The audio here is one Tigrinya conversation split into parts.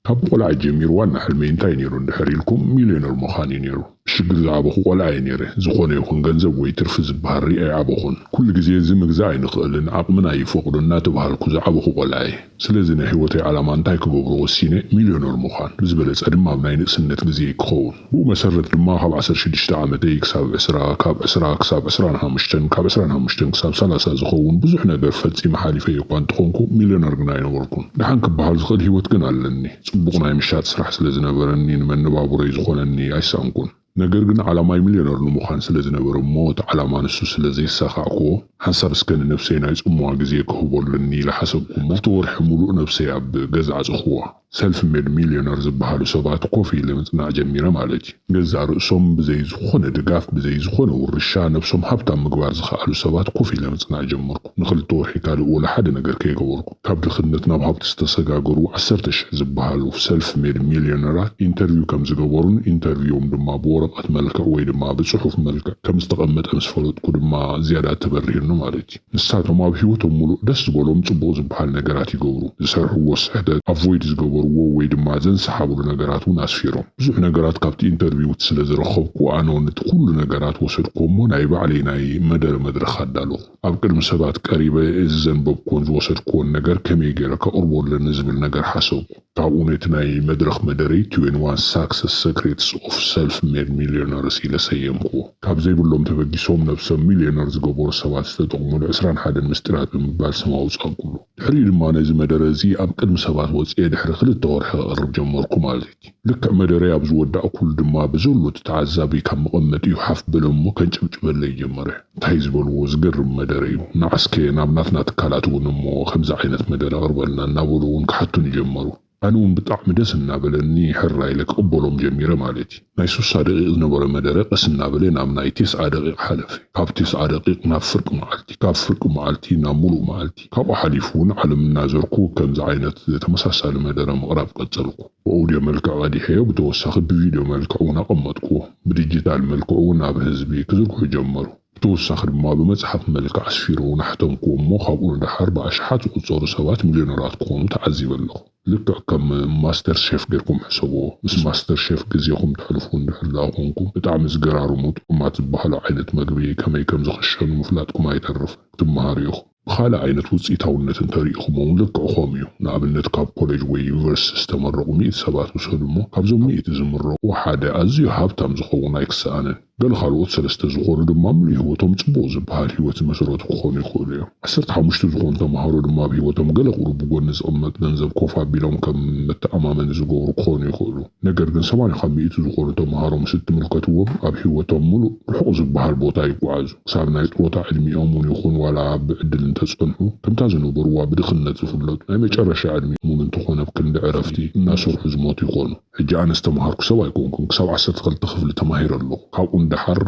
ካብ ቆልዓ ጀሚሩ ዋና ሕልመይ እንታይ ነይሩ እንድሕር ኢልኩም ሚልዮነር ምዃን እዩ ነይሩ። ብሽግር ዝዓበኹ ቆልዓ እየ ነይረ። ዝኾነ ይኹን ገንዘብ ወይ ትርፊ ዝበሃል ሪኤ ኣይዓበኹን። ኩሉ ግዜ እዚ ምግዛእ ኣይንኽእልን፣ ዓቕምና ኣይፈቕዶን እናተብሃልኩ ዝዓበኹ ቆልዓ እየ። ስለዚ ናይ ህይወተይ ዓላማ እንታይ ክገብሮ ወሲነ፣ ሚልዮነር ምዃን፣ ብዝበለፀ ድማ ኣብ ናይ ንእስነት ግዜይ ክኸውን። ብኡ መሰረት ድማ ካብ ዓሰርተ ሽዱሽተ ዓመተይ ክሳብ ዕስራ፣ ካብ ዕስራ ክሳብ ዕስራን ሓሙሽተን፣ ካብ ዕስራን ሓሙሽተን ክሳብ ሰላሳ ዝኸውን ብዙሕ ነገር ፈጺመ ሓሊፈዮ እኳ እንተኾንኩ፣ ሚልዮነር ግና ኣይነበርኩን። ደሓን ክበሃል ዝኽእል ህይወት ግን ኣለኒ። ጽቡቕ ናይ ምሻጥ ስራሕ ስለ ዝነበረኒ፣ ንመነባብሮይ ዝኾነኒ ኣይሰኣንኩን። ነገር ግን ዓላማይ ሚልዮነር ንምዃን ስለ ዝነበረ እሞ እቲ ዓላማ ንሱ ስለ ዘየሳኻዕኩዎ፣ ሓንሳብ እስከ ንነብሰይ ናይ ጽምዋ ግዜ ክህቦ ኣለኒ ኢለ ሓሰብኩ እሞ፣ ክልተ ወርሒ ምሉእ ነብሰይ ኣብ ገዛ ዓጸኹዋ። ሰልፍ ሜድ ሚልዮነር ዝበሃሉ ሰባት ኮፍ ኢለ ምጽናዕ ጀሚረ ማለት እዩ። ገዛእ ርእሶም ብዘይ ዝኾነ ድጋፍ ብዘይ ዝኾነ ውርሻ ነብሶም ሃብታም ምግባር ዝኸኣሉ ሰባት ኮፍ ኢለ ምጽናዕ ጀመርኩ። ንኽልተ ወርሒ ካልእ ወላ ሓደ ነገር ከይገበርኩ። ካብ ድኽነት ናብ ሃብቲ ዝተሰጋገሩ ዓሰርተ ሽሕ ዝበሃሉ ሰልፍ ሜድ ሚልዮነራት ኢንተርቪው ከም ዝገበሩን ኢንተርቪዎም ድማ ብወረቐት መልክዕ ወይ ድማ ብጽሑፍ መልክዕ ከም ዝተቐመጠ ምስ ፈለጥኩ ድማ ዝያዳ ተበሪሁኒ ማለት እዩ። ንሳቶም ኣብ ህይወቶም ምሉእ ደስ ዝበሎም ጽቡቕ ዝበሃል ነገራት ይገብሩ። ዝሰርሕዎ ስሕተት፣ ኣቮይድ ዝገበርዎ ወይ ድማ ዘንሰሓብሉ ነገራት እውን ኣስፊሮም። ብዙሕ ነገራት ካብቲ ኢንተርቪውት ስለ ዝረኸብኩ ኣነ እውን እቲ ኩሉ ነገራት ወሰድክዎ እሞ ናይ ባዕለይ ናይ መደረ መድረኽ ኣዳለኹ። ኣብ ቅድሚ ሰባት ቀሪበ እዚ ዘንበብክዎን ዝወሰድክዎን ነገር ከመይ ገይረ ከቕርቦ ኣለኒ ዝብል ነገር ሓሰብኩ። ካብኡ ነቲ ናይ መድረኽ መደረይ ትዌንቲ ዋን ሳክሰስ ሰክሬትስ ኦፍ ሰልፍ ሜድ ሚልዮነርስ ኢለ ሰየምክዎ። ካብ ዘይብሎም ተበጊሶም ነብሶም ሚልዮነር ዝገበሩ ሰባት ዝተጠቕሙሉ ዕስራን ሓደን ምስጢራት ብምባል ስም ኣውጻእኩሉ። ድሕሪኡ ድማ ነዚ መደረ እዚ ኣብ ቅድሚ ሰባት ወጺኤ ድሕሪ ክልተ ወርሒ ከቕርብ ጀመርኩ ማለት እዩ። ልክዕ መደረይ ኣብ ዝወዳእኩሉ ድማ ብዘሎ እቲ ተዓዛቢ ካብ መቐመጢኡ ሓፍ በለ እሞ ከንጨብጭበለይ ጀመረ። ታይ ዝበልዎ ዝገርም መደረ እዩ መዓስከ ናብ ናትና ትካላት እውን እሞ ከምዚ ዓይነት መደረ ኣቅርበልና እናበሉ እውን ክሓቱኒ ጀመሩ ኣነ እውን ብጣዕሚ ደስ እናበለኒ ሕራይ ኢለ ክቅበሎም ጀሚረ ማለት እዩ ናይ ሱሳ ደቂቅ ዝነበረ መደረ ቀስ እናበለ ናብ ናይ ቴስዓ ደቂቅ ሓለፈ ካብ ቴስዓ ደቂቅ ናብ ፍርቂ መዓልቲ ካብ ፍርቂ መዓልቲ ናብ ሙሉእ መዓልቲ ካብኡ ሓሊፉ እውን ዓለም እናዘርኩ ከምዚ ዓይነት ተመሳሳሊ መደረ ምቅራብ ቀፀልኩ ብኦውድዮ መልክዕ ቀዲሐዮ ብተወሳኺ ብቪድዮ መልክዕ እውን ኣቐመጥክዎ። ብዲጂታል መልክዑ እውን ናብ ህዝቢ ክዝርግሑ ጀመሩ። ብተወሳኺ ድማ ብመፅሓፍ መልክዕ ኣስፊረ እውን ኣሕተምክዎ እሞ ካብኡ ንደሓር ብኣሽሓት ዝቑፀሩ ሰባት ሚልዮነራት ክኾኑ ተዓዚበ ኣለኹ። ልክዕ ከም ማስተር ሼፍ ገይርኩም ሕሰብዎ። ምስ ማስተር ሼፍ ግዜኹም ተሕልፉ እንድሕር ደኣ ኮንኩም ብጣዕሚ ዝገራርሙ ጥዑማት ዝበሃሉ ዓይነት መግቢ ከመይ ከምዝኽሸኑ ምፍላጥኩም ኣይተርፍን። ክትመሃሩ ኢኹም። ብኻልእ ዓይነት ውጽኢታውነት እንተ ርኢኹሞ'ውን ልክዕ ከምኡ እዩ። ንኣብነት ካብ ኮለጅ ወይ ዩኒቨርሲቲ ዝተመረቑ ሚእቲ ሰባት ውሰዱ እሞ፣ ካብዞም ሚእቲ ዝምረቑ ሓደ ኣዝዩ ሃብታም ዝኸውን ኣይክሰኣንን። ገለ ካልኦት ሰለስተ ዝኾኑ ድማ ምሉእ ህይወቶም ጽቡቕ ዝበሃል ህይወት ዝመሰረቱ ክኾኑ ይኽእሉ እዮም። ዓሰርተ ሓሙሽተ ዝኾኑ ተማሃሮ ድማ ኣብ ህይወቶም ገለ ቁሩብ ብጎኒ ዝቕመጥ ገንዘብ ኮፍ ኣቢሎም ከም መተኣማመኒ ዝገብሩ ክኾኑ ይኽእሉ። ነገር ግን ሰማንያ ካብ ሚእቲ ዝኾኑ ተምሃሮ ምስ እትምልከትዎም ኣብ ሂወቶም ምሉእ ርሑቕ ዝበሃል ቦታ ይጓዓዙ። ክሳብ ናይ ጥሮታ ዕድሚኦም ውን ይኹን ዋላ ኣብ ብዕድል እንተጸንሑ ከምታ ዝነበርዋ ብድኽነት ዝፍለጡ ናይ መጨረሻ ዕድሚኦም ውን እንተኾነ ኣብ ክንዲ ዕረፍቲ እናሰርሑ ዝሞቱ ይኾኑ። ሕጂ ኣነ ዝተምሃርኩ ሰብ ኣይኮንኩን ክሳብ ዓሰርተ ክልተ ክፍሊ ተማሂረ ኣለኹ። ካብኡ ንደሓር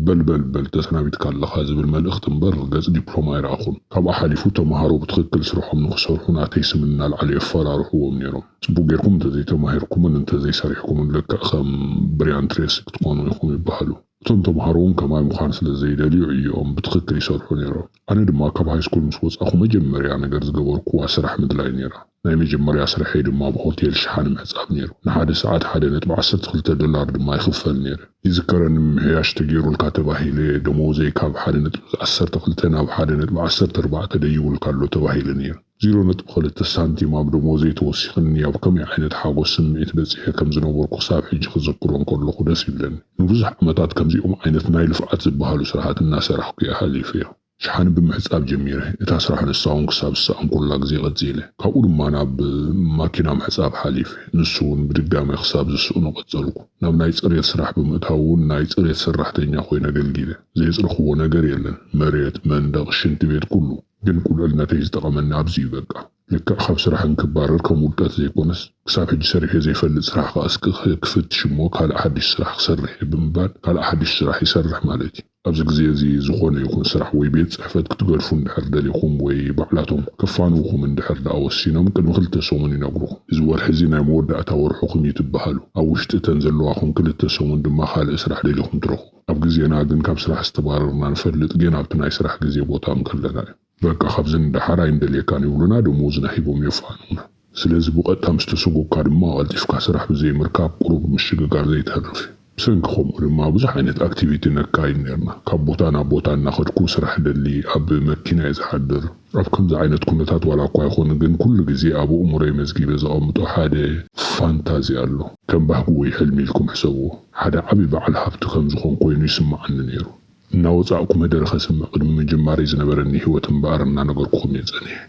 በል በል በል ተሰናቢትካ ኣለኻ ዝብል መልእኽቲ እምበር ገጽ ዲፕሎማ ኣይረኣኹን። ካብኡ ሓሊፉ ተምሃሮ ብትኽክል ስርሖም ንኽሰርሑ ናተይ ስም እናልዓሉ የፈራርሕዎም ኔሮም። ጽቡቅ ጌርኩም እንተዘይተማሂርኩምን እንተዘይሰሪሕኩምን ልክዕ ከም ብርያን ትሬሲ ክትኮኑ ኢኩም ይባሃሉ። እቶም ተማሃሮ ውን ከማይ ምኳን ስለ ዘይደልዩ ዕዮኦም ብትክክል ይሰርሑ ኔሮም። ኣነ ድማ ካብ ሃይስኩል ምስ ወጻኩ መጀመርያ ነገር ዝገበርኩዋ ስራሕ ምድላይ ኔራ። ናይ መጀመርያ ስርሐይ ድማ ኣብ ሆቴል ሽሓነ ምሕጻብ ኔሩ። ንሓደ ሰዓት ሓደ ነጥቢ ዓሰርተ ክልተ ዶላር ድማ ይክፈል ኔረ። ይዝከረኒ ምምሕያሽ ተጌሩልካ ተባሂለ ደሞዘይ ካብ ሓደ ነጥቢ ዓሰርተ ክልተ ናብ ሓደ ነጥቢ ዓሰርተ ኣርባዕተ ደይቡልካ ኣሎ ተባሂለ ኔረ። ዜሮ ነጥቢ ክልተ ሳንቲም ኣብ ደሞዘይ ተወሲኽኒ ኣብ ከመይ ዓይነት ሓጎስ ስምዒት በጺሐ ከም ዝነበርኩ ክሳብ ሕጂ ክዝክሮ እንከለኹ ደስ ይብለኒ። ንብዙሕ ዓመታት ከምዚኦም ዓይነት ናይ ልፍዓት ዝበሃሉ ስራሓት እናሰራሕኩ እየ ሓሊፈዮ። ሸሓኒ ብምሕጻብ ጀሚረ እታ ስራሕ ንሳውን ክሳብ ዝሰኣንኩላ ግዜ ቀጺለ። ካብኡ ድማ ናብ ማኪና ምሕጻብ ሓሊፈ ንሱውን ብድጋሜ ክሳብ ዝስእኖ ቀጸልኩ። ናብ ናይ ጽሬት ስራሕ ብምእታውውን ናይ ጽሬት ሰራሕተኛ ኮይነ ኣገልጊለ። ዘየጽረኽዎ ነገር የለን መሬት፣ መንደቕ፣ ሽንቲ ቤት ኩሉ። ግን ቁልዕነተይ ዝጠቐመኒ ኣብዚ እዩ በቃ። ልክዕ ካብ ስራሕ እንክባረር ከም ውድቀት ዘይኮነስ ክሳብ ሕጂ ሰሪሐዮ ዘይፈልጥ ስራሕ ከኣ እስኪ ክፍትሽ እሞ ካልእ ሓድሽ ስራሕ ክሰርሕ እየ ብምባል ካልእ ሓድሽ ስራሕ ይሰርሕ ማለት እዩ። ኣብዚ ግዜ እዚ ዝኾነ ይኹን ስራሕ ወይ ቤት ጽሕፈት ክትገድፉ እንድሕር ደሊኹም ወይ ባዕላቶም ከፋንዉኹም እንድሕር ደኣ ወሲኖም ቅድሚ ክልተ ሰሙን ይነግሩኹም። እዚ ወርሒ እዚ ናይ መወዳእታ ወርሕኹም እዩ ትበሃሉ። ኣብ ውሽጢ እተን ዘለዋኹም ክልተ ሰሙን ድማ ካልእ ስራሕ ደሊኹም ትረኽቡ። ኣብ ግዜና ግን ካብ ስራሕ ዝተባረርና ንፈልጥ ግን ኣብቲ ናይ ስራሕ ግዜ ቦታ እንከለና እዩ። በቃ ካብዚ ንደሓር ኣይንደልየካን ይብሉና ደሞዝና ሂቦም የፋንዉና። ስለዚ ብቐጥታ ምስ ተሰጎግካ ድማ ቀልጢፍካ ስራሕ ብዘይ ምርካብ ቁሩብ ምሽግጋር ዘይተርፍ እዩ። ብሰንኪ ከምኡ ድማ ብዙሕ ዓይነት ኣክቲቪቲ ነካይድ ኔርና። ካብ ቦታ ናብ ቦታ እናኸድኩ ስራሕ እደሊ፣ ኣብ መኪና እየ ዝሓድር። ኣብ ከምዚ ዓይነት ኩነታት ዋላ እኳ ይኹን ግን ኩሉ ግዜ ኣብ ኣእምሮይ መዝጊበ ዘቐምጦ ሓደ ፋንታዚ ኣሎ። ከም ባህጊ ወይ ሕልሚ ኢልኩም ሕሰብዎ፣ ሓደ ዓቢ በዓል ሃብቲ ከም ዝኾንኩ ኮይኑ ይስመዓኒ ነይሩ። እናወጻእኩ መደረ ከስምዕ ቅድሚ ምጅማረይ ዝነበረኒ ህይወት እምበኣር እናነገርኩኹም እየ ጸኒሐ።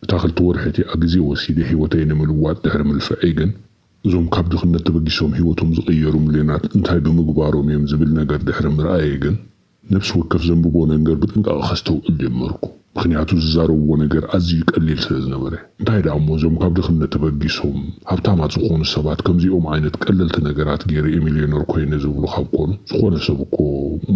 እታ ክልተ ወርሒ እቲኣ ግዜ ወሲደ ህይወተይ ንምልዋጥ ድሕሪ ምልፍዐይ ግን፣ እዞም ካብ ድኽነት ተበጊሶም ህይወቶም ዝቐየሩ ሚልዮናት እንታይ ብምግባሮም እዮም ዝብል ነገር ድሕሪ ምርኣየይ ግን፣ ነፍሲ ወከፍ ዘንብቦ ነንገር ብጥንቃቐ ከስተውዕል ጀመርኩ። ምኽንያቱ ዝዛረብዎ ነገር ኣዝዩ ቀሊል ስለ ዝነበረ። እንታይ ደኣ እሞ እዞም ካብ ድኽነት ተበጊሶም ሃብታማት ዝኾኑ ሰባት ከምዚኦም ዓይነት ቀለልቲ ነገራት ገይረ'የ ሚልዮነር ኮይነ ዝብሉ ካብ ኮኑ ዝኾነ ሰብ እኮ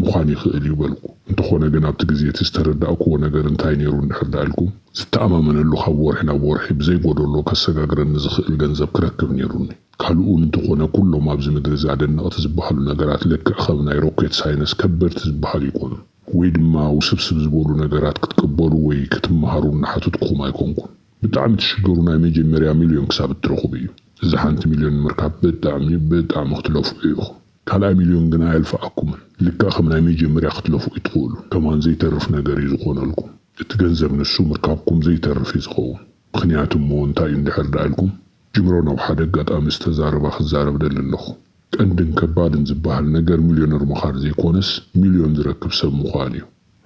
ምዃን ይኽእል እዩ በልኩ። እንተኾነ ግን ኣብቲ ግዜ እቲ ዝተረዳእክዎ ነገር እንታይ ነይሩ እንድሕር ደኣ ኢልኩም? ዝተኣማመነሉ ካብ ወርሒ ናብ ወርሒ ብዘይ ጎዶሎ ከሰጋግረኒ ዝኽእል ገንዘብ ክረክብ ነይሩኒ። ካልእውን እንተኾነ ኩሎም ኣብዚ ምድሪ እዚ ኣደነቕቲ ዝበሃሉ ነገራት ልክዕ ከም ናይ ሮኬት ሳይነስ ከበድቲ ዝበሃሉ ኣይኮኑን። ወይ ድማ ውስብስብ ዝበሉ ነገራት ክትቅበሉ ወይ ክትመሃሩ እናሓተትኩኹም ኣይኮንኩን። ብጣዕሚ ትሽገሩ ናይ መጀመርያ ሚልዮን ክሳብ እትረኽቡ እዩ። እዛ ሓንቲ ሚልዮን ንምርካብ ብጣዕሚ ብጣዕሚ ክትለፍዑ ኢኹም። ካልኣይ ሚልዮን ግና ኣየልፍዓኩምን። ልክዕ ከም ናይ መጀመርያ ክትለፍዑ ትኽእሉ። ከማን ዘይተርፍ ነገር እዩ ዝኾነልኩም። እቲ ገንዘብ ንሱ ምርካብኩም ዘይተርፍ እዩ ዝኸውን። ምኽንያቱ እሞ እንታይ እዩ እንድሕር ደኣ ኢልኩም? ጅብሮን ኣብ ሓደ ኣጋጣሚ ዝተዛረባ ክዛረብ ደሊ ኣለኹ። ቀንድን ከባድን ዝበሃል ነገር ሚልዮነር ምኻር ዘይኮነስ ሚልዮን ዝረክብ ሰብ ምዃን እዩ።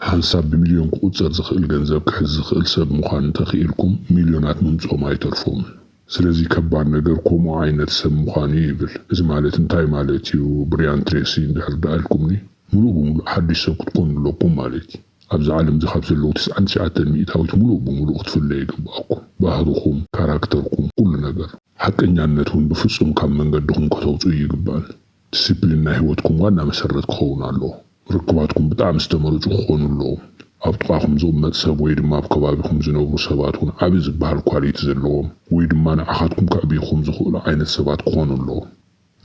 ሓንሳብ ብሚልዮን ክቑጸር ዝኽእል ገንዘብ ክሕዝ ዝኽእል ሰብ ምዃን እንተኽኢልኩም ሚልዮናት ምምጽኦም ኣይተርፎምን። ስለዚ ከባድ ነገር ከምኡ ዓይነት ሰብ ምዃን እዩ ይብል። እዚ ማለት እንታይ ማለት እዩ ብርያን ትሬሲ እንድሕር ደኣ ኢልኩምኒ ምሉእ ብምሉእ ሓድሽ ሰብ ክትኮኑ ኣለኩም ማለት እዩ። ኣብዛ ዓለምዚ ካብ ዘለዉ ትስዓን ትሽዓተን ሚእታዊት ምሉእ ብምሉእ ክትፍለዩ ይግበኣኩም። ባህርኹም፣ ካራክተርኩም፣ ኩሉ ነገር። ሓቀኛነት ውን ብፍጹም ካብ መንገድኹም ከተውጽኡ እይግባእን። ዲሲፕሊን ናይ ህይወትኩም ዋና መሰረት ክኸውን ኣለዎ። ርክባትኩም ብጣዕሚ ዝተመረጹ ክኾኑ ኣለዎም። ኣብ ጥቓኹም ዝቕመጥ ሰብ ወይ ድማ ኣብ ከባቢኹም ዝነብሩ ሰባት ውን ዓቢ ዝበሃል ኳሊቲ ዘለዎም ወይ ድማ ንዓኻትኩም ከዕብዩኹም ዝኽእሉ ዓይነት ሰባት ክኾኑ ኣለዎም።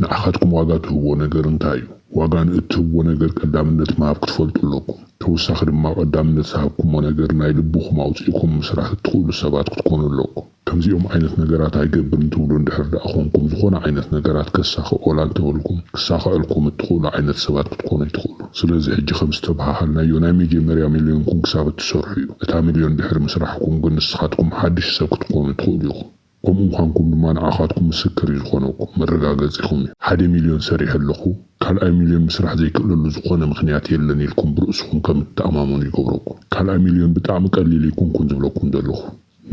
ንዓኻትኩም ዋጋ ትህብዎ ነገር እንታይ እዩ? ዋጋ ንእትህብዎ ነገር ቀዳምነት ምሃብ ክትፈልጡ ኣለኩም። ተወሳኺ ድማ ቀዳምነት ዝሃብኩሞ ነገር ናይ ልብኹም ኣውጺእኩም ምስራሕ እትኽእሉ ሰባት ክትኮኑ ኣለኩም። ከምዚኦም ዓይነት ነገራት ኣይገብርን ትብሉ እንድሕር ደኣ ኮንኩም ዝኾነ ዓይነት ነገራት ከሳኽዕ ወላ እንተበልኩም ክሳኸዐልኩም እትኽእሉ ዓይነት ሰባት ክትኮኑ ኣይትኽእሉን። ስለዚ ሕጂ ከም ዝተበሃሃልናዮ ናይ መጀመርያ ሚልዮንኩም ክሳብ እትሰርሑ እዩ። እታ ሚልዮን ድሕሪ ምስራሕኩም ግን ንስኻትኩም ሓድሽ ሰብ ክትኮኑ ትኽእሉ ኢኹም። ከምኡ ምዃንኩም ድማ ንዓኻትኩም ምስክር እዩ ዝኾነኩም፣ መረጋገጺኹም እዩ። ሓደ ሚልዮን ሰሪሐ ኣለኹ፣ ካልኣይ ሚልዮን ምስራሕ ዘይክእለሉ ዝኾነ ምኽንያት የለን ኢልኩም ብርእስኹም ከም እትተኣማመኑ ይገብረኩም። ካልኣይ ሚልዮን ብጣዕሚ ቀሊል ኣይኮንኩን ዝብለኩም ዘለኹ፣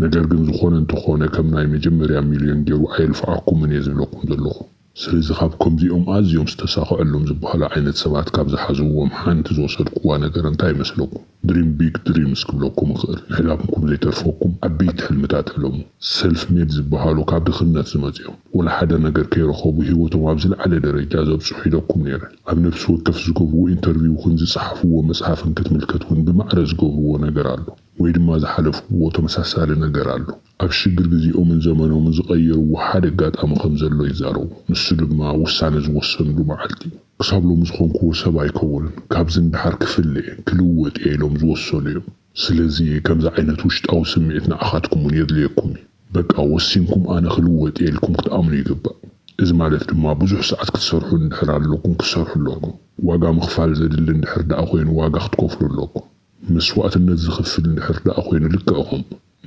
ነገር ግን ዝኾነ እንተኾነ ከም ናይ መጀመርያ ሚልዮን ጌሩ ኣየልፍዓኩምን እየ ዝብለኩም ዘለኹ። ስለዚ ካብ ከምዚኦም ኣዝዮም ዝተሳኸዐሎም ዝበሃሉ ዓይነት ሰባት ካብ ዝሓዝዎም ሓንቲ ዝወሰድኩዋ ነገር እንታይ ይመስለኩም? ድሪም ቢግ ድሪምስ ክብለኩም እኽእል። ምሕላምኩም ዘይተርፈኩም ዓበይቲ ሕልምታት ሕለሙ። ሰልፍ ሜድ ዝበሃሉ ካብ ድኽነት ዝመጽኦም ወላ ሓደ ነገር ከይረኸቡ ህይወቶም ኣብ ዝለዓለ ደረጃ ዘብጽሑ ኢለኩም ነይረ። ኣብ ነብሲ ወከፍ ዝገብርዎ ኢንተርቪውክን ዝጸሓፍዎ መጽሓፍን ክትምልከት እውን ብማዕረ ዝገብርዎ ነገር ኣሎ ወይ ድማ ዝሓለፍዎ ተመሳሳሊ ነገር ኣሎ። ኣብ ሽግር ግዜኦምን ዘመኖምን ዝቐየርዎ ሓደ ኣጋጣሚ ከም ዘሎ ይዛረቡ። ንሱ ድማ ውሳነ ዝወሰንሉ መዓልቲ እዩ። ክሳብ ሎሚ ዝኾንክዎ ሰብ ኣይከውንን፣ ካብዚ ንደሓር ክፍለ'የ፣ ክልወጥ እየ ኢሎም ዝወሰኑ እዮም። ስለዚ ከምዚ ዓይነት ውሽጣዊ ስምዒት ንዓኻትኩም እውን የድልየኩም እዩ። በቃ ወሲንኩም ኣነ ክልወጥ እየ ኢልኩም ክትኣምኑ ይግባእ። እዚ ማለት ድማ ብዙሕ ሰዓት ክትሰርሑ እንድሕር ኣለኩም ክትሰርሑ ኣለኩም። ዋጋ ምኽፋል ዘድሊ እንድሕር ደኣ ኮይኑ ዋጋ ክትከፍሉ ኣለኩም። መስዋእትነት ዝኽፍል እንድሕር ደኣ ኮይኑ ልክዕኹም።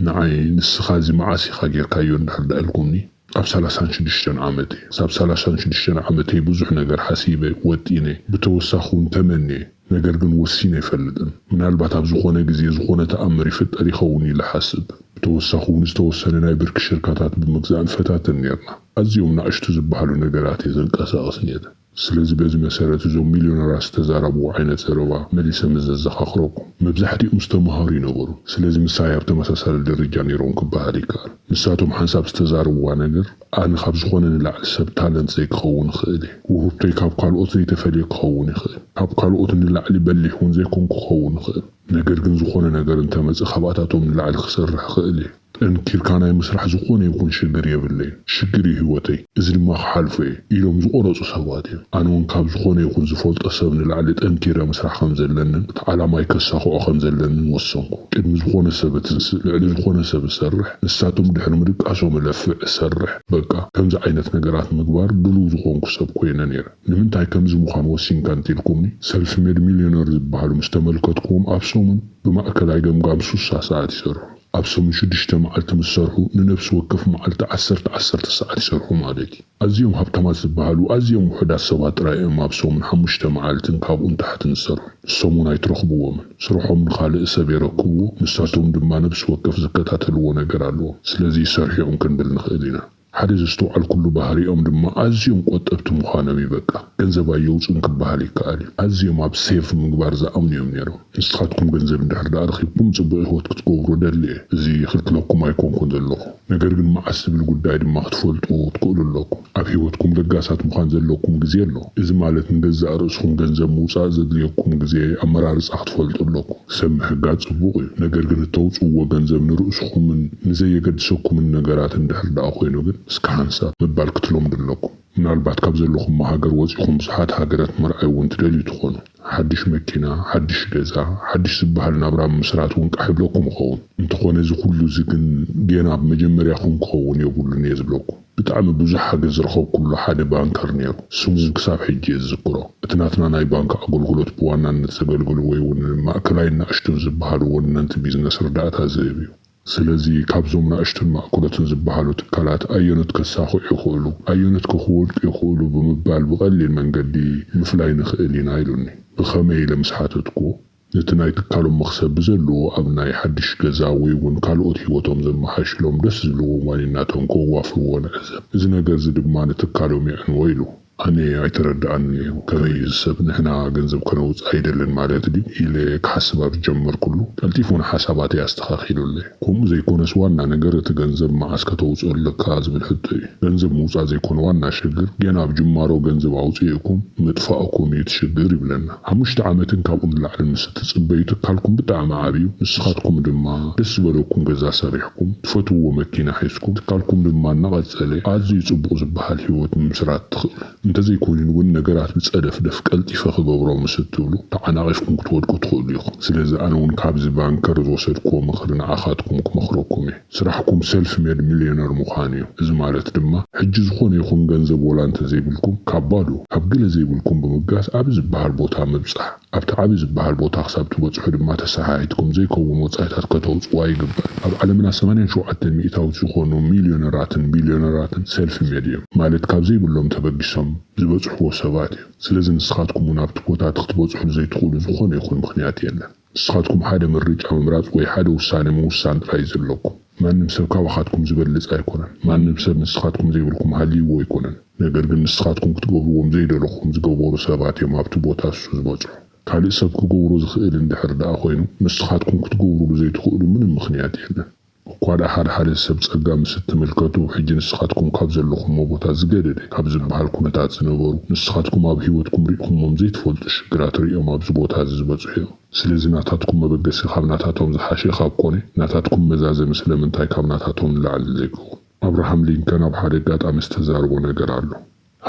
ንዓይ ንስኻ እዚ መዓስ ኢኻ ጌርካዮ እንድሕር ደኣ ኢልኩምኒ ኣብ ሰላሳን ሽዱሽተን ዓመተይ እየ። ኣብ ሰላሳን ሽዱሽተን ዓመተይ ብዙሕ ነገር ሓሲበ፣ ወጢነ፣ ብተወሳኺ ውን ተመንየ ነገር ግን ወሲነ ኣይፈልጥን። ምናልባት ኣብ ዝኾነ ግዜ ዝኾነ ተኣምር ይፍጠር ይኸውን ኢለ እሓስብ። ብተወሳኺ ውን ዝተወሰነ ናይ ብርኪ ሽርካታት ብምግዛእ ንፈታተን ኔርና። ኣዝዮም ናእሽቱ ዝበሃሉ ነገራት እየ ዘንቀሳቕስ ኔረ። ስለዚ በዚ መሰረት እዞም ሚልዮነራት ዝተዛረብዎ ዓይነት ዘረባ መሊሰ ምስ ዘዘኻኽረኩም፣ መብዛሕቲኦም ዝተማሃሩ ይነበሩ፣ ስለዚ ምሳይ ኣብ ተመሳሳሊ ደረጃ ነይሮም ክበሃል ይከኣል። ንሳቶም ሓንሳብ ዝተዛረብዋ ነገር፣ ኣነ ካብ ዝኾነ ንላዕሊ ሰብ ታለንት ዘይክኸውን እኽእል እየ፣ ውህብቶይ ካብ ካልኦት ዘይተፈልየ ክኸውን ይኽእል፣ ካብ ካልኦት ንላዕሊ በሊሕ እውን ዘይኮንኩ ክኸውን እኽእል፣ ነገር ግን ዝኾነ ነገር እንተመጸ ካብኣታቶም ንላዕሊ ክሰርሕ እኽእል እየ። ጠንኪርካ ናይ ምስራሕ ዝኾነ ይኹን ሽግር የብለይን፣ ሽግር እዩ ህይወተይ፣ እዚ ድማ ክሓልፎ እየ ኢሎም ዝቖረፁ ሰባት እዮም። ኣነ እውን ካብ ዝኾነ ይኹን ዝፈልጦ ሰብ ንላዕሊ ጠንኪረ ምስራሕ ከም ዘለንን እቲ ዓላማይ ከሳኽዖ ከም ዘለንን ወሰንኩ። ቅድሚ ዝኾነ ሰብ እትንስእ፣ ልዕሊ ዝኾነ ሰብ እሰርሕ፣ ንሳቶም ድሕሪ ምድቃሶም እለፍዕ፣ እሰርሕ፣ በቃ ከምዚ ዓይነት ነገራት ንምግባር ድሉው ዝኾንኩ ሰብ ኮይነ ነይረ። ንምንታይ ከምዚ ምዃን ወሲንካ እንተኢልኩምኒ፣ ሰልፍ ሜድ ሚልዮነር ዝበሃሉ ምስ ተመልከትኩዎም ኣብ ሰሙን ብማእከላይ ገምጋም ሱሳ ሰዓት ይሰርሑ። ኣብ ሰሙን ሽዱሽተ መዓልቲ ምስ ሰርሑ ንነብሲ ወከፍ መዓልቲ ዓሰርተ ዓሰርተ ሰዓት ይሰርሑ ማለት እዩ። ኣዝዮም ሃብታማት ዝበሃሉ ኣዝዮም ውሑዳት ሰባት ጥራይ እዮም ኣብ ሰሙን ሓሙሽተ መዓልትን ካብኡ ንታሕትን ዝሰርሑ። ንሶም እውን ኣይትረኽብዎምን። ስርሖም ንኻልእ ሰብ የረክብዎ፣ ንሳቶም ድማ ነብሲ ወከፍ ዝከታተልዎ ነገር ኣለዎም። ስለዚ ሰርሒኦም ክንብል ንኽእል ኢና። ሓደ ዘስተውዓልኩሉ ባህሪኦም ድማ ኣዝዮም ቆጠብቲ ምዃኖም እዩ በቃ ገንዘብ ኣየውጹን ክበሃል ይከኣል እዩ ኣዝዮም ኣብ ሴቭ ምግባር ዝኣምኑ እዮም ኔሮም ንስኻትኩም ገንዘብ እንድሕር ደኣ ረኺብኩም ጽቡቕ ሂወት ክትገብሩ እደሊ እየ እዚ ይኽልክለኩም ኣይኮንኩን ዘለኹ ነገር ግን መዓስ ዝብል ጉዳይ ድማ ክትፈልጡ ትክእሉ ኣለኩም ኣብ ሂወትኩም ለጋሳት ምዃን ዘለኩም ግዜ ኣሎ እዚ ማለት ንገዛእ ርእስኹም ገንዘብ ምውጻእ ዘድልየኩም ግዜ ኣመራርጻ ክትፈልጡ ኣለኩም። ሰብ ምሕጋዝ ጽቡቕ እዩ፣ ነገር ግን እተውጽእዎ ገንዘብ ንርእስኹምን ንዘየገድሰኩምን ነገራት እንድሕር ደኣ ኮይኑ ግን እስከ ሓንሳብ ምባል ክትለምዱ ኣለኩም። ምናልባት ካብ ዘለኹሞ ሃገር ወጺኹም ብዙሓት ሃገራት ምርኣይ እውን ትደልዩ ትኾኑ። ሓድሽ መኪና፣ ሓድሽ ገዛ፣ ሓድሽ ዝበሃል ናብራ ምምስራት እውን ቃሕ ይብለኩም ይኸውን። እንተኾነ እዚ ኩሉ እዚ ግን ጌና ኣብ መጀመርያኹም ክኸውን የብሉን እየ ዝብለኩም። ብጣዕሚ ብዙሕ ሓገዝ ዝረኸብኩሉ ሓደ ባንከር ነይሩ። ስሙ ግን ክሳብ ሕጂ እየ ዝዝክሮ። እቲ ናትና ናይ ባንክ ኣገልግሎት ብዋናነት ዘገልግል ወይ'ውን ማእከላይን ናእሽቱን ዝበሃሉ ወነንቲ ቢዝነስ ርዳእታ ዝህብ እዩ። ስለዚ ካብዞም ናእሽቱን ማእከሎትን ዝበሃሉ ትካላት ኣየኖት ከሳኽዑ ይኽእሉ፣ ኣየኖትከ ክወድቁ ይኽእሉ ብምባል ብቐሊል መንገዲ ምፍላይ ንኽእል ኢና ኢሉኒ። ብኸመይ ኢለ ምስ ሓተትኩዎ። ነቲ ናይ ትካሎም መኽሰብ ብዘለዎ ኣብ ናይ ሓድሽ ገዛ ወይ እውን ካልኦት ህይወቶም ዘመሓይሽሎም ደስ ዝብልዎም ዋኒናቶም ከዋፍርዎ ንዕዘብ። እዚ ነገርዚ ድማ ንትካሎም የዕንዎ ኢሉ። ኣነ ኣይተረድኣንን እዩ። ከመይ እዩ እዚ ሰብ ንሕና ገንዘብ ከነውጽእ ኣይደልን ማለት ድዩ? ኢለ ክሓስብ ኣብ ዝጀመርኩሉ፣ ቀልጢፉ ንሓሳባተይ ኣስተኻኺሉለይ። ከምኡ ዘይኮነስ ዋና ነገር እቲ ገንዘብ መዓስ ከተውጽኦ ኣለካ ዝብል ሕቶ እዩ። ገንዘብ ምውጻእ ዘይኮነ ዋና ሽግር ገና ኣብ ጅማሮ ገንዘብ ኣውጺእኩም ምጥፋእኩም እዩ እቲ ሽግር ይብለና። ሓሙሽተ ዓመትን ካብኡ ንላዕልን ምስ እትጽበዩ ትካልኩም ብጣዕሚ ዓብዩ ንስኻትኩም ድማ ደስ ዝበለኩም ገዛ ሰሪሕኩም ትፈትውዎ መኪና ሒዝኩም ትካልኩም ድማ እናቐጸለ ኣዝዩ ጽቡቕ ዝበሃል ሂወት ምምስራት ትኽእሉ። እንተዘይኮይኑ እውን ነገራት ብጸደፍደፍ ቀልጢፈ ክገብሮም ምስ እትብሉ ተዓናቒፍኩም ክትወድቁ ትኽእሉ ኢኹም። ስለዚ ኣነ እውን ካብዚ ባንከር ዝወሰድክዎ ምኽሪ ንዓኻትኩም ክመኽረኩም እየ። ስራሕኩም ሰልፍ ሜድ ሚልዮነር ምዃን እዩ። እዚ ማለት ድማ ሕጂ ዝኾነ ይኹን ገንዘብ ወላ እንተዘይብልኩም ካብ ባዶ፣ ካብ ገለ ዘይብልኩም ብምብጋስ ኣብዚ ዝበሃል ቦታ ምብጻሕ። ኣብቲ ዓቢ ዝበሃል ቦታ ክሳብ ትበጽሑ ድማ ተሰሓሒትኩም ዘይከውን ወጻኢታት ከተውጽዋ ይግበር። ኣብ ዓለምና ሰማንያን ሸውዓተን ሚእታዊት ዝኾኑ ሚልዮነራትን ቢልዮነራትን ሰልፊ ሜድ እዮም። ማለት ካብ ዘይብሎም ተበጊሶም ዝበጽሕዎ ሰባት እዮም። ስለዚ ንስኻትኩም እውን ኣብቲ ቦታ እቲ ክትበጽሑሉ ዘይትኽእሉ ዝኾነ ይኹን ምኽንያት የለን። ንስኻትኩም ሓደ ምርጫ ምምራጽ ወይ ሓደ ውሳነ ምውሳን ጥራይ እዩ ዘለኩም። ማንም ሰብ ካባኻትኩም ዚበልጽ ኣይኰነን። ማንም ሰብ ንስኻትኩም ዘይብልኩም ሃልይዎ ኣይኰነን። ነገር ግን ንስኻትኩም ክትገብርዎም ዘይደለኹም ዝገበሩ ሰባት እዮም ኣብቲ ቦታ እሱ ዝበጽሑ። ካልእ ሰብ ክገብሮ ዝኽእል እንድሕር ደኣ ኰይኑ፣ ንስኻትኩም ክትገብሩሉ ዘይትኽእሉ ምንም ምኽንያት የለን። እኳ ደኣ ሓደ ሓደ ሰብ ጸጋ ምስ እትምልከቱ፣ ሕጂ ንስኻትኩም ካብ ዘለኹሞ ቦታ ዝገደደ ካብ ዚብሃል ኵነታት ዝነበሩ፣ ንስኻትኩም ኣብ ህይወትኩም ርኢኹሞም ዘይትፈልጡ ሽግራት ርእዮም ኣብዚ ቦታ እዚ ዝበጽሑ እዮም። ስለዚ ናታትኩም መበገሲ ካብ ናታቶም ዝሓሸ ካብ ኮነ፣ ናታትኩም መዛዘሚ ስለምንታይ ካብ ናታቶም ንላዕሊ ዘይከውን? ኣብርሃም ሊንከን ኣብ ሓደ ኣጋጣሚ ዝተዛረቦ ነገር ኣሎ።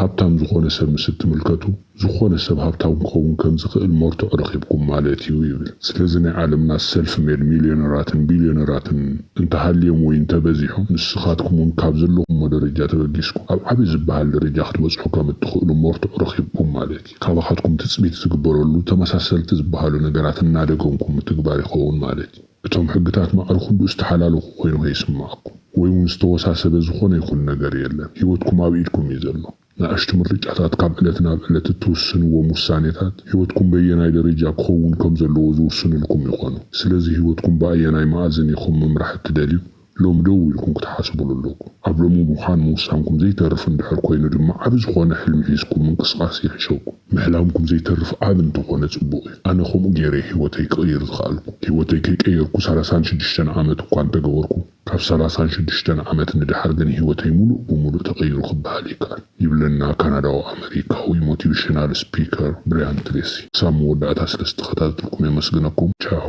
ሃብታም ዝኾነ ሰብ ምስ እትምልከቱ፣ ዝኾነ ሰብ ሃብታም ክኸውን ከም ዝኽእል መርትዖ ረኺብኩም ማለት እዩ ይብል። ስለዚ ናይ ዓለምና ሰልፍ ሜድ ሚልዮነራትን ቢልዮነራትን እንተሃልዮም ወይ እንተበዚሖም፣ ንስኻትኩም እውን ካብ ዘለኹሞ ደረጃ ተበጊስኩም ኣብ ዓቢ ዝበሃል ደረጃ ክትበጽሑ ከም እትኽእሉ መርትዖ ረኺብኩም ማለት እዩ። ካባኻትኩም ትጽቢት ዝግበረሉ ተመሳሰልቲ ዝበሃሉ ነገራት እናደገምኩም ምትግባር ይኸውን ማለት እዩ። እቶም ሕግታት ማዕረ ኩሉ ዝተሓላለኹ ኮይኑ ከይስምዓኩም ወይ እውን ዝተወሳሰበ ዝኾነ ይኹን ነገር የለን። ህይወትኩም ኣብ ኢድኩም እዩ ዘሎ። ንኣሽቱ ምርጫታት ካብ ዕለት ናብ ዕለት እትውስንዎም ውሳኔታት ህይወትኩም በየናይ ደረጃ ክኸውን ከም ዘለዎ ዝውስኑልኩም ይኾኑ። ስለዚ ህይወትኩም ብኣየናይ መኣዝን ኢኹም ምምራሕ እትደልዩ? ሎሚ ደው ኢልኩም ክትሓስቡሉ ኣለኩም። ኣብ ሎሚ ምዃን ምውሳንኩም ዘይተርፍ እንድሕር ኮይኑ ድማ ዓቢ ዝኾነ ሕልሚ ሒዝኩም ምንቅስቓስ ይሕሸኩም። ምሕላምኩም ዘይተርፍ ዓቢ እንተኾነ ጽቡቕ እዩ። ኣነ ከምኡ ጌረ እየ ህይወተይ ክቕይር ዝኸኣልኩ። ህይወተይ ከይቀየርኩ ሰላሳን ሽዱሽተን ዓመት እኳ እንተገበርኩ፣ ካብ ሰላሳን ሽዱሽተን ዓመት ንደሓር ግን ህይወተይ ምሉእ ብምሉእ ተቐይሩ ክበሃል ይከኣል። ይብለና ካናዳዊ ኣመሪካዊ ሞቲቭሽናል ስፒከር ብርያን ትሬሲ። ክሳብ መወዳእታ ስለ ዝተኸታተልኩም የመስግነኩም። ቻው።